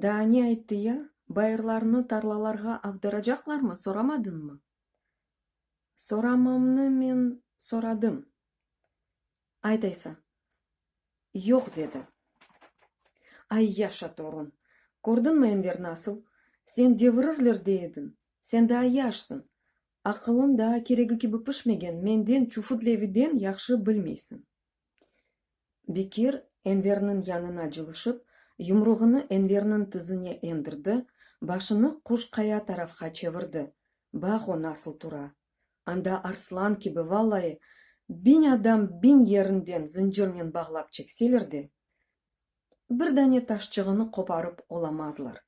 Daa ne ayttı ya? Bayırlarnı tarlalarğa avdıracaqlarmı, soramadınmı? Soramamnı men soradım. Aytaysa, yoq dedi. Ay, yaşa, torun! Kördiñmi, Enver, nasıl? Sen devirirler dey ediñ, sen daa yaşsıñ, Aqılın daa keregi kibi pişmegen menden, Çufut Leviden yahşı bilmeysiñ. Bekir, Enverniñ yanına cılışıp, yumruğını Enverniñ tizine endirdi, başını quş qaya tarafqa çevirdi, bax o nasıl tura. Anda arslan kibi, vallayı, biñ adam biñ yerinden zıncırnen bağlap çekseler de, bir dane taşçığını qoparıp olamazlar.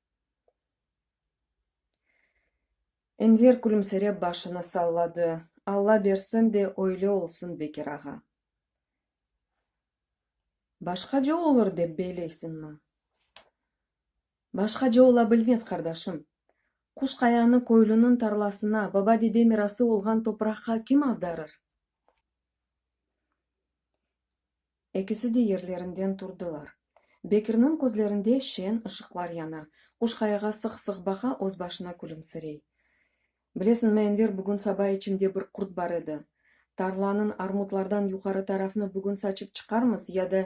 Enver külümsirep başını salladı. Alla bersin de öyle olsun, Bekir ağa. Başqaca olur dep beyleysiñmi? Başqaca ola bilmez, qardaşım. Quş qayanı köylüniñ tarlasına, baba-dede mirası olğan topraqqa kim avdarır? Ekisi de yerlerinden turdılar. Bekirniñ közlerinde şeñ ışıqlar yana, Quşqayağa sıq-sıq baqa, öz başına külümsirey. Bilesiñmi, Enver, bugün saba içimde bir qurt bar edi. Tarlanıñ armutlardan yuqarı tarafını bugün saçıp çıqarmız ya da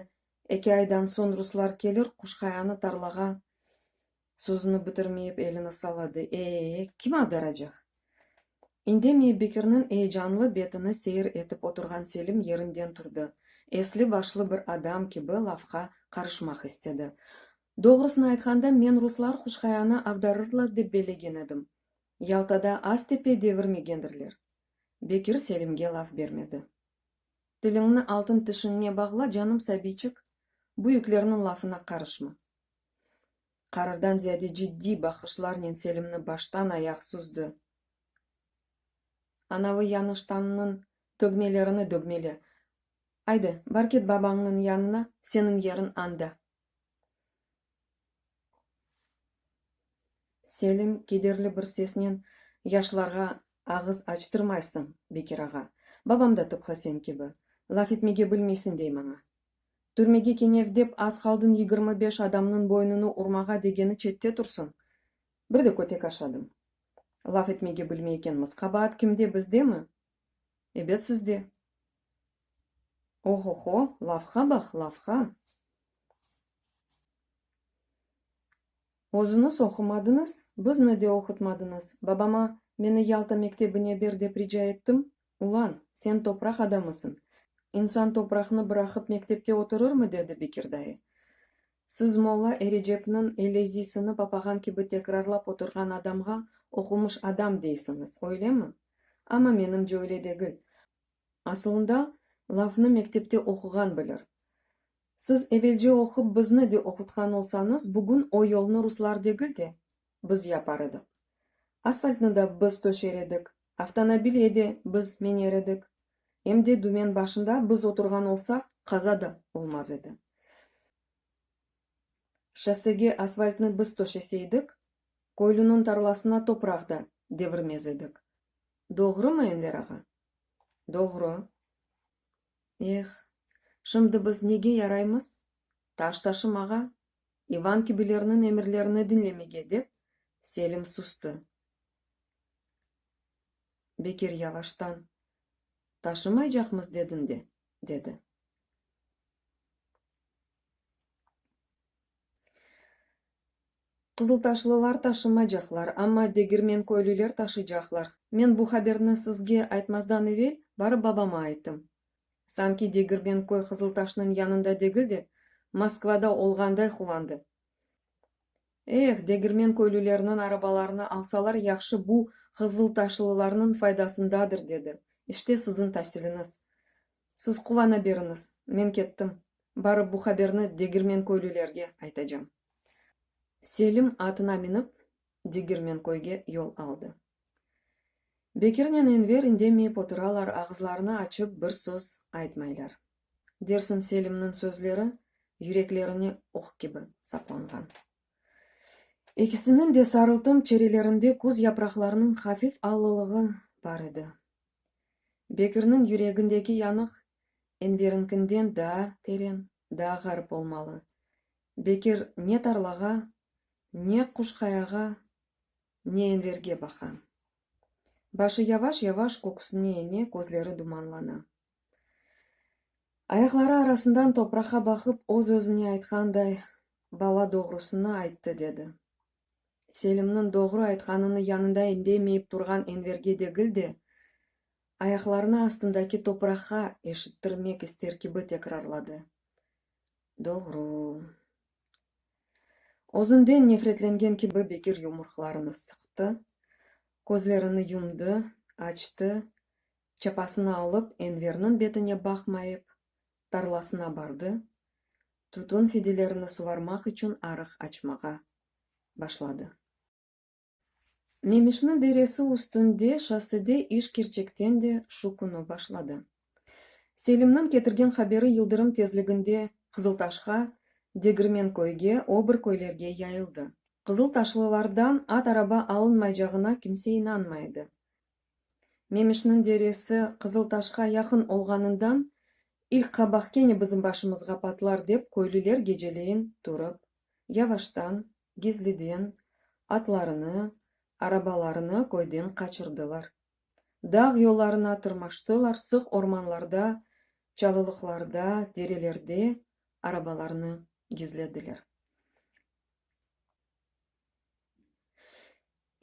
eki aydan soñ ruslar kelir, Quşqayanı tarlağa Sözüni bitirmeyip elini salladı. E-e, kim agdaracaq? İndemey Bekirniñ eyecanlı betini seyir etip oturğan Selim yerinden turdı. Esli-başlı bir adam kibi lafqa qarışmaq istedi. Doğrusını aytqanda, men ruslar Huşqayanı agdarırlar dep bellegen edim. Yaltada Aztepe devirmegendirler. Bekir Selimge laf bermedi. Tiliñni altın tişiñne bağla, canım sabiyçik, büyüklerniñ lafına qarışma. Qarırdan ziyade ciddiy baqışlarnen Selimni baştan ayaq süzdi. Anavı yanı ştanınıñ tögmelerini dögmele. Ayde, bar ket babañnıñ yanına, seniñ yeriñ anda. Selim kederli bir sesnen, Yaşlarğa ağız açtırmaysıñ, Bekir ağa. Babam da tıpqı sen kibi. Laf etmege bilmeysiñ, dey maña. Türmege kenev dep az qaldın yigirmi beş adamnıñ boynunı urmağa degeni çette tursın. Bir de kötek aşadım. Laf etmege bilmey ekenmiz. Qabaat kimde, bizdemi? Ebet sizde. Ohoho, lafğa baq, lafğa! Özüñiz oqumadıñız, bizni de oqutmadıñız. Babama, meni Yalta mektebine ber dep rica ettim, Ulan, sen topraq adamısıñ, insan topraqnı bıraqıp mektepte oturırmı? dedi Bekir dayı. Siz molla Erecepniñ elezisini papağan kibi tekrarlap oturğan adamğa oqumış adam deysiñiz, öylemi? Amma menimce öyle degil. Asılında, lafnı mektepte oquğan bilir. Siz evelce oqup bizni de oqutqan olsañız, bugün o yolnı ruslar degil de, biz yapar edik. Asfaltnı da biz töşer edik, avtonabilye de biz miner edik, em de dümen başında biz oturğan olsaq, qaza da olmaz edi. Şossege asfaltnı biz töşeseydik, köylüniñ tarlasına topraq da devirmez edik. Doğrumı, Enver ağa? Doğru. Eh, şimdi biz nege yaraymız? Taş taşımağa, İvan kibilerniñ emirlerini diñlemege, dep, Selim sustı. Bekir yavaştan, Taşımaycaqmız dediñ de, dedi. Qızıltaşlılar taşımaycaqlar, amma Degirmenköylüler taşıycaqlar. Men bu haberni sizge aytmazdan evel, barıp babama ayttım. Sanki degirgen köy Qızıltaşnıñ yanında degil de, Moskvada olğanday quvandı. Eh, degirmen köylülerniñ arabalarını alsalar yahşı bu qızıltaşlılarnıñ faydasındadır, dedi. İşte siziñ tasiliniz. Siz quvana beriñiz, men kettim. Barıp bu haberni degirmen köylülerge aytacam. Selim atına minip, degirmen köyge yol aldı. Bekirnen Enver indemeyip oturalar, ağızlarını açıp bir söz aytmaylar. Dersiñ Selimniñ sözleri yüreklerine oq kibi saplanğan. Ekisiniñ de sarıltım çerelerinde küz yapraqlarınıñ hafif allılığı bar edi. Bekirniñ yüregindeki yanıq Enveriñkinden daa teren, daa ğarip olmalı. Bekir ne tarlağa, ne Quşqayağa Neyenlerge baqa. Başı yavaş-yavaş köküsine ene, közleri dumanlana. Ayaqları arasından topraqa baqıp, öz-özüne aytqanday, Bala doğrusını ayttı, dedi. Selimniñ doğru aytqanını yanında indemeyip turğan Enverge degil de, ayaqlarını astındaki topraqa eşittirmek ister kibi tekrarladı, Doğru. Özünden nefretlengen kibi Bekir yumruqlarını sıqtı, közlerini yumdı, açtı, çapasını alıp Enverniñ betine baqmayıp, tarlasına bardı, tütün fidelerini suvarmaq içün arıq açmağa başladı. Memişni deresi üstünde şossede iş kerçekten de şu künü başladı. Selimniñ ketirgen haberi yıldırım tezliginde Qızıltaşqa, Degirmenköyge, o bir köylerge yayıldı. Qızıltaşlılardan at-araba alınmaycağına kimse inanmay edi. Memişniñ deresi Qızıltaşqa yaqın olğanından, ilk qabaq kene bizim başımızğa patlar dep köylüler geceleyin turıp, yavaştan gizliden atlarını, arabalarını köyden qaçırdılar. Dağ yollarına tırmaştılar, sıq ormanlarda, çalılıqlarda, derelerde arabalarını gizlediler.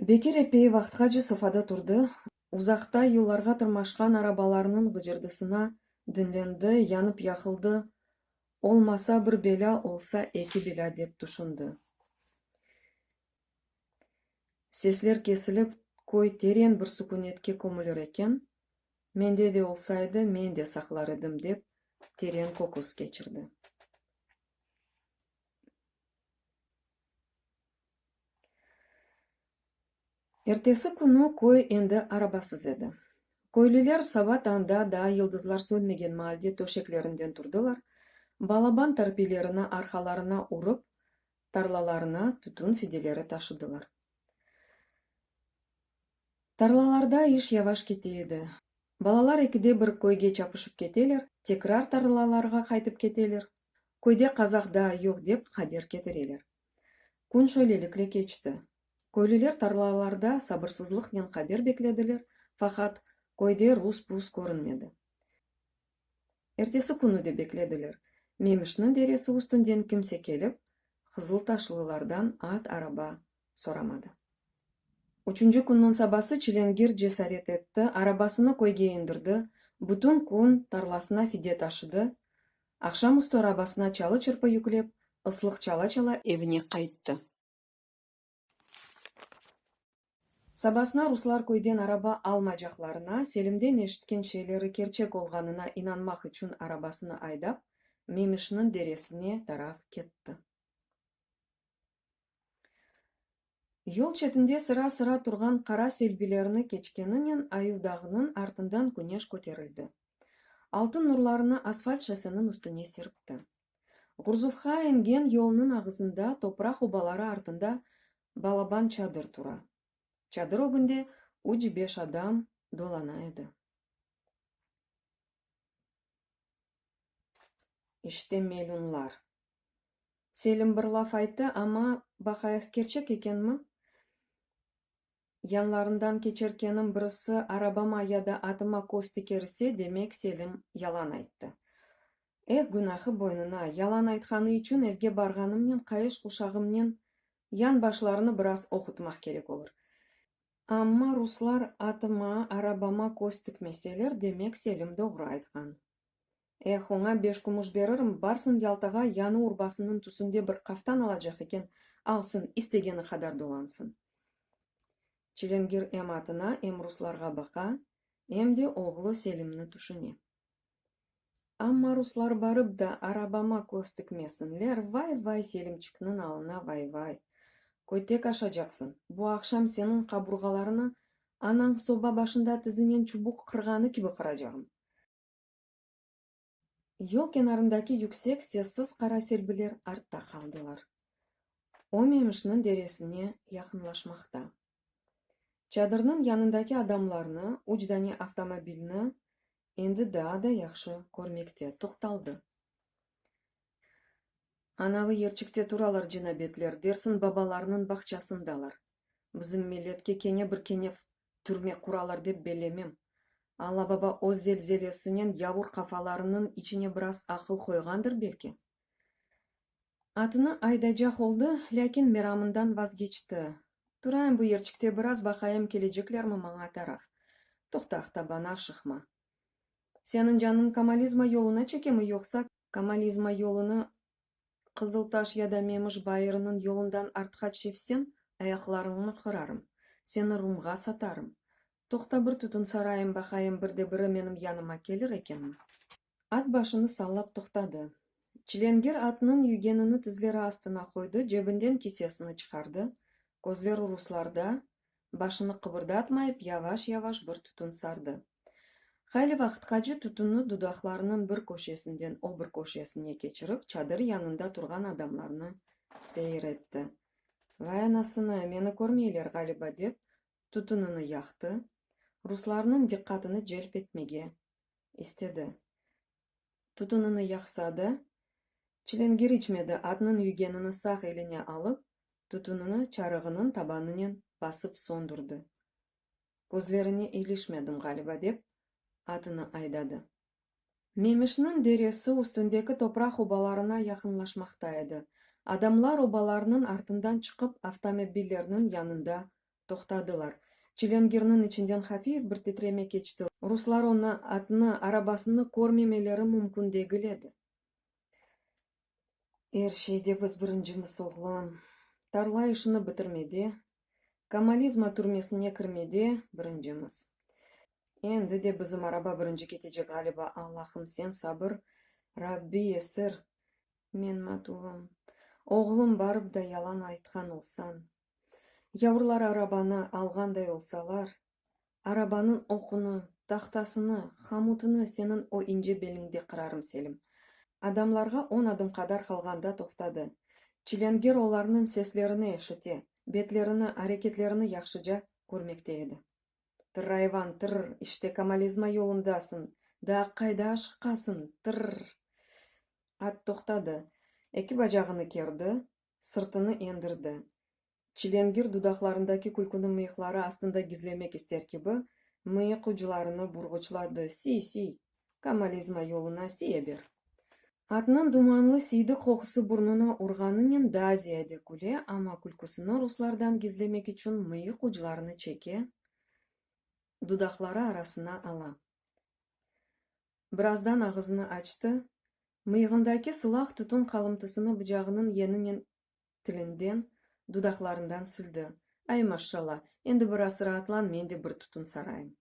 Bekir epey vaqtqace sofada turdı, uzaqta yollarğa tırmaşqan arabalarnıñ gıcırdısına diñlendi, yanıp-yaqıldı, Olmasa bir belâ, olsa eki belâ, dep tüşündi. Sesler kesilip, köy teren bir sükünetke kömülür eken. Mende de olsaydı, men de saqlar edim, dep teren köküs keçirdi. Ertesi künü köy endi arabasız edi. Köylüler saba tañda daa yıldızlar sönmegen maalde töşeklerinden turdılar, balaban tarpiylerini arqalarına urıp, tarlalarına tütün fideleri taşıdılar. Tarlalarda iş yavaş kete edi. Balalar ekide bir köyge çapışıp keteler, tekrar tarlalarğa qaytıp keteler, köyde qazaq daa yoq dep haber ketireler. Kün şöylelikle keçti. Köylüler tarlalarda sabırsızlıqnen haber beklediler, faqat köyde rus-pus körünmedi. Ertesi künü de beklediler, Memişniñ deresi üstünden kimse kelip, qızıltaşlılardan at, araba soramadı. Üçünci künniñ sabası çilengir cesaret etti, arabasını köyge indirdi, bütün kün tarlasına fide taşıdı, aqşamüstü arabasına çalı-çırpı yüklep, ıslıq çala-çala evine qayttı. Sabasına ruslar köyden araba almaycaqlarına, Selimden eşitken şeyleri kerçek olğanına inanmaq içün arabasını aydap, Memişniñ deresine taraf ketti. Yol çetinde sıra-sıra turğan qara selbilerni keçkeninen Ayuvdağnıñ artından küneş köterildi. Altın nurlarını asfalt şosseniñ üstüne serpti. Gurzufğa engen yolnıñ ağızında topraq obaları artında balaban çadır tura. Çadır ögünde üç-beş adam dolana edi. İşte melünlar. Selim bir laf ayttı, amma, baqayıq, kerçek ekenmi? Yanlarından keçerkenim birisi arabama ya da atıma köz tikerse, demek, Selim yalan ayttı. Eh, günahı boynuna! Yalan aytqanı içün evge barğanımnen qayış quşağımnen yan başlarını biraz oqutmaq kerek olur. Amma ruslar atıma, arabama köz tikmeseler, demek, Selim doğru aytqan. Eh, oña beş kumuş beririm, barsın Yaltağa, yanı urbasınıñ tüsünde bir qaftan alacaq eken, alsın, istegeni qadar dolansın. Çilingir em atına, em ruslarğa baqa, em de oğlu Selimni tüşüne. Amma ruslar barıp da arabama köz tikmesinler, vay-vay, Selimçikniñ alına vay-vay! Kötek aşacaqsıñ, bu aqşam seniñ qaburğalarını anañ soba başında tizinen çubuq qırğanı kibi qıracağım. Yol kenarındaki yüksek sessiz qara selbiler artta qaldılar. O Memişniñ deresine yaqınlaşmaqta. Çadırnıñ yanındaki adamlarnı, üç dane avtomobilni endi daa da yahşı körmekte toqtaldı. Anavı yerçikte turalar cenabetler, dersin babalarnıñ bağçasındalar. Bizim milletke kene bir kenev Türme quralar dep belemem. Alla-Baba öz zelzelesinen yavur qafalarınıñ içine biraz aqıl qoyğandır belki. Atını aydaycaq oldı, lâkin meramından vazgeçti. Turayım bu yerçikte biraz, baqayım keleceklermi maña taraf. Toqtaq, tabana şıqma. Seniñ canıñ Kamalizma yoluna çekemi yoqsa? Kamalizma yolunı Qızıltaş ya da Memiş bayırınıñ yolundan artqa çevsem, ayaqlarıñnı qırarım, seni Rumğa satarım. Toqta bir tütün sarayım baqayım, bir de biri menim yanıma kelir ekenmi? At başını sallap toqtadı. Çilenger atnıñ yügenini tizleri astına qoydı, cebinden kisesini çıqardı, közleri ruslarda, başını qıbırdatmayıp, yavaş-yavaş bir tütün sardı. Hayli vaqıtqace tütünnü dudaqlarınıñ bir köşesinden o bir köşesine keçirip, çadır yanında turğan adamlarnı seyir etti. Vay anasını, meni körmeyler ğaliba, dep, tütünini yaqtı, ruslarnıñ diqqatını celp etmege istedi. Tutunını yaqsa da, çilingir içmedi, atnıñ yügenini sağ eline alıp, tutunını çarığınıñ tabanınen basıp söndürdi. Közlerine ilişmedim ğaliba, dep, atını aydadı. Memişniñ deresi üstündeki topraq obalarına yaqınlaşmaqta edi. Adamlar obalarnıñ artından çıqıp avtomobillerniñ yanında Toqtadılar. Çilingirniñ içinden hafif bir titreme keçti. Ruslar onı, atnı, arabasını körmemeleri mümkün degil edi. Er şeyde biz birincimiz, oğlum. Tarla işini bitirmede, Kamalizma türmesine kirmede birincimiz. Endi de bizim araba birinci ketecek ğaliba. Allahım, sen sabır, Rabbi esir. Men matuvım. Oğlum, barıp da yalan aytqan olsañ. Yavrular arabanı alğanday olsalar, arabanıñ oqunı, tahtasını, hamutını seniñ o ince beliñde qırarım, Selim. Adamlarğa on adım qadar qalğanda toqtadı. Çilenger olarnıñ seslerini eşite, betlerini, areketlerini yahşıca körmekte edi. Tırrayvan, tırr, işte Kamalizma yolundasıñ, daa qayda aşıqasıñ, tırr! At toqtadı. Eki bacağını kerdi, sırtını endirdi. Çilengir dudaqlarındaki külküni mıyıqları astında gizlemek ister kibi, mıyıq uclarını burğuçladı, siy, siy! Kamalizma yoluna siye ber! Atnıñ dumanlı siydik qoqusı burnuna urğanınen daa ziyade küle, amma külküsini ruslardan gizlemek içün mıyıq uclarını çeke, dudaqları arasına ala. Birazdan ağızını açtı, mıyığındaki sılaq tütün qalıntısını bıcağınıñ yeninen tilinden, dudaqlarından sildi. Ay, maşşalla, endi biraz raatlan, men de bir tütün sarayım.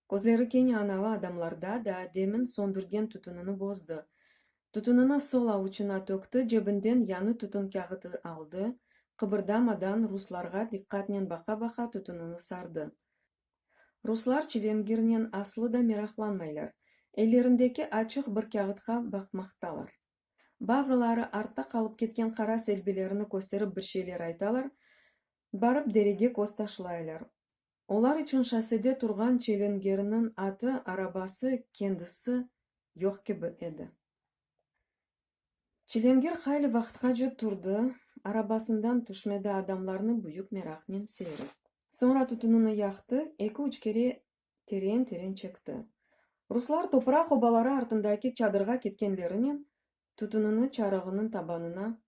Közleri kene anavi adamlarda da demin söndürgen tütünini bozdı. Tütünini sol avuçına tökti, cebinden yañı tütün kâğıtı aldı, qıbırdamadan ruslarğa diqqatnen baqa-baqa tütünini sardı. Ruslar çilengirnen aslı da meraqlanmaylar, ellerindeki açıq bir kâğıtqa baqmaqtalar. Bazıları artta qalıp ketken qara selbilerini kösterip bir şeyler aytalar, barıp derege köz taşlaylar. Olar içün şossede turğan çelengirniñ atı, arabası, kendisi yoq kibi edi. Çilingir hayli vaqıtqace turdı, arabasından tüşmedi, adamlarnı büyük meraqnen seyir etti. Soñra tütünini yaqtı, eki-üç kere teren-teren çekti. Ruslar topraq obaları artındaki çadırğa ketkenlerinen tütünini çarığınıñ tabanına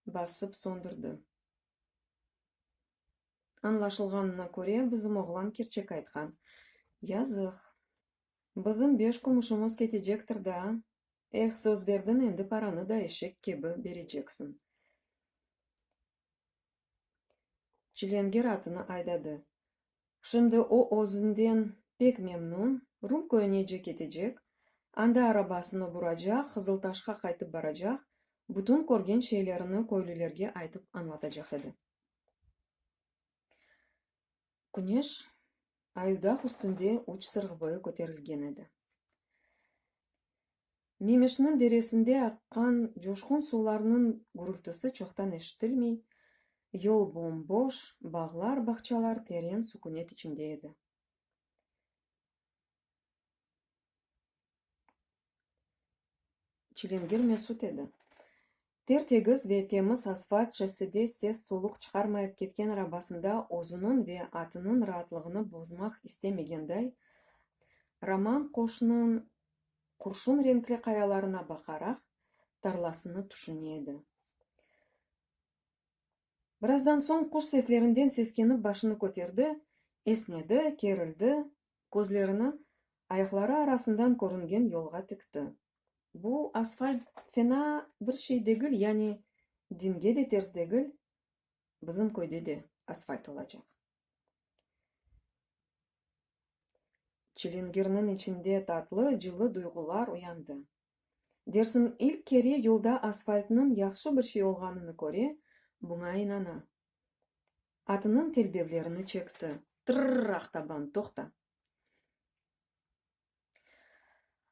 basıp söndürdi. Añlaşılğanına köre, bizim oğlan kerçek aytqan. Yazıq. Bizim beş kumuşımız ketecektir daa, Eh, söz berdiñ, endi paranı da eşek kibi bereceksin. Çilenger atını aydadı. Şimdi o özünden pek memnun, Rum köyünece ketecek, anda arabasını buracaq, Qızıltaşqa qaytıp baracaq, bütün körgen şeylerini köylülerge aytıp añlatacaq edi. Küneş Ayudağ üstünde üç sırğ boyu köterilgen edi. Memeşniñ deresinde aqqan coşqun suvlarnıñ gürültüsi çoqtan eşitilmey, yol bom-boş, bağlar-bağçalar teren sükünet içinde edi. Çilingir mesut edi. Ter-tegiz ve temiz asfalt şossede ses-soluq çıqarmayıp ketken arabasında özüniñ ve atınıñ raatlığını bozmaq istemegenday, Roman qoşnıñ qurşun renkli qayalarına baqaraq, tarlasını tüşüne edi. Birazdan soñ quş seslerinden seskenip başını köterdi, esnedi, kerildi, közlerini ayaqları arasından körüngen yolğa tikti. Bu asfalt fena bir şey degil, yani dinge de ters degil, bizim köyde de asfalt olacaq. Çilingirniñ içinde tatlı, cılı duyğular uyandı. Dersin, ilk kere yolda asfaltnıñ yahşı bir şey olğanını köre, buña inana. Atınıñ telbevlerini çekti. Tırrr, Aqtaban, toqta!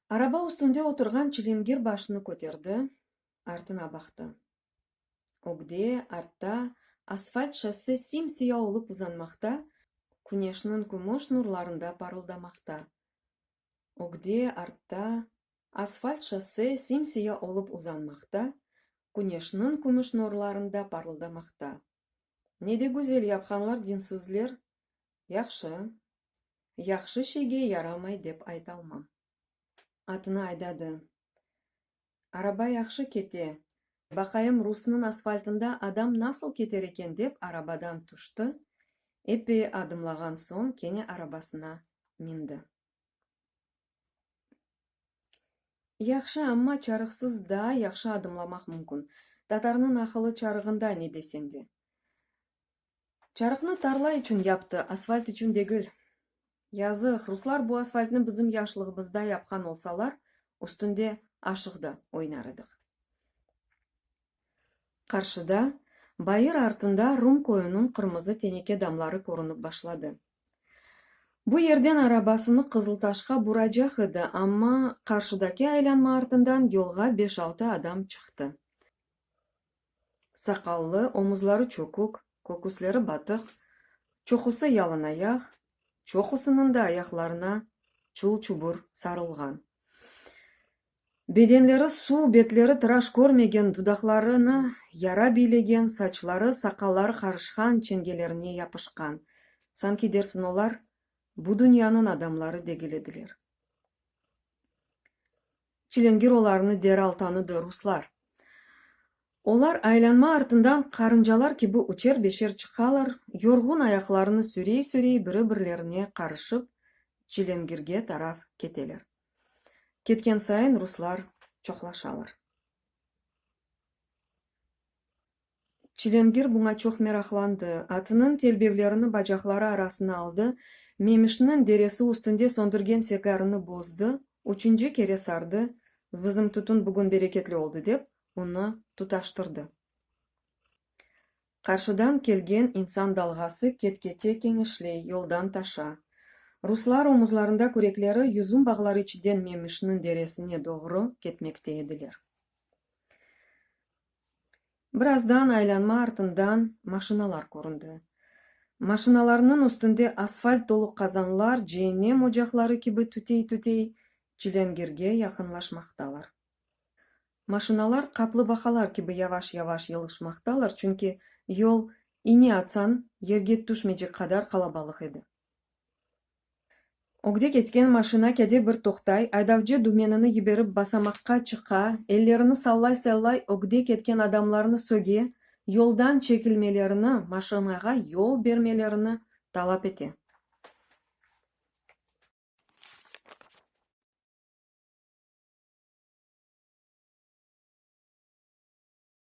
Araba üstünde oturğan çilingir başını köterdi, artına baqtı. Ögde, artta, asfalt şosse sim-siya olıp uzanmaqta, küneşniñ kümüş nurlarında parıldamaqta. Ögde, artta, asfalt şosse sim-siya olıp uzanmaqta, küneşniñ kümüş nurlarında parıldamaqta. Ne de güzel yapqanlar dinsizler! Yahşı, yahşı şeyge yaramay dep aytalmam. Atını aydadı. Araba yahşı kete. Baqayım, Rusnıñ asfaltında adam nasıl keter eken dep arabadan tüşti, epey adımlağan soñ kene arabasına mindi. Yahşı, amma çarığsız daa yahşı adımlamaq mümkün. Tatarnıñ naqılı çarığında ne deseñ de. Çarıqnı tarla içün yaptı, asfalt içün degil. Yazıq, ruslar bu asfaltnı bizim yaşlığımızda yapqan olsalar, üstünde aşıq da oynar ediq. Qarşıda, bayır artında Rum köyüniñ qırmızı teneke damları körünip başladı. Bu yerden arabasını Qızıltaşqa buracaq edi, amma qarşıdaki aylanma artından yolğa beş-altı adam çıqtı. Saqallı, omuzları çökük, köküsleri batıq, çoqusı yalınayaq, çoqusınıñ da ayaqlarına çul-çubur sarılğan. Bedenleri suv, betleri tıraş körmegen, dudaqlarını yara biylegen, saçları, saqalları qarışqan, çengelerine yapışqan. Sanki dersiñ, olar bu dünyanıñ adamları degil ediler. Çilingir olarnı deral tanıdı, ruslar. Olar aylanma artından qarıncalar kibi üçer-beşer çıqalar, yorğun ayaqlarını sürey-sürey biri-birlerine qarışıp Çilingirge taraf keteler. Ketken sayın ruslar çoqlaşalar. Çilingir buña çoq meraqlandı, atınıñ telbevlerini bacaqları arasına aldı, Memişniñ deresi üstünde söndürgen segarını bozdı, üçünci kere sardı, Bizim tütün bugün bereketli oldı, dep, onı tutaştırdı. Qarşıdan kelgen insan dalğası ket-kete keñişley, yoldan taşa. Ruslar omuzlarında kürekleri, yüzüm bağları içiden Memişniñ deresine doğru ketmekte ediler. Birazdan aylanma artından maşinalar köründi. Maşinalarnıñ üstünde asfalt dolu qazanlar ceennem ocaqları kibi tütey-tütey Çilângirge yaqınlaşmaqtalar. Maşinalar qaplı baqalar kibi yavaş-yavaş yılışmaqtalar, çünki yol iñe atsañ yerge tüşmeycek qadar qalabalıq edi. Ögde ketken maşina kede bir toqtay, aydavcı dümenini yiberip basamaqqa çıqa, ellerini sallay-sallay ögde ketken adamlarnı söge, yoldan çekilmelerini, maşinağa yol bermelerini talap ete.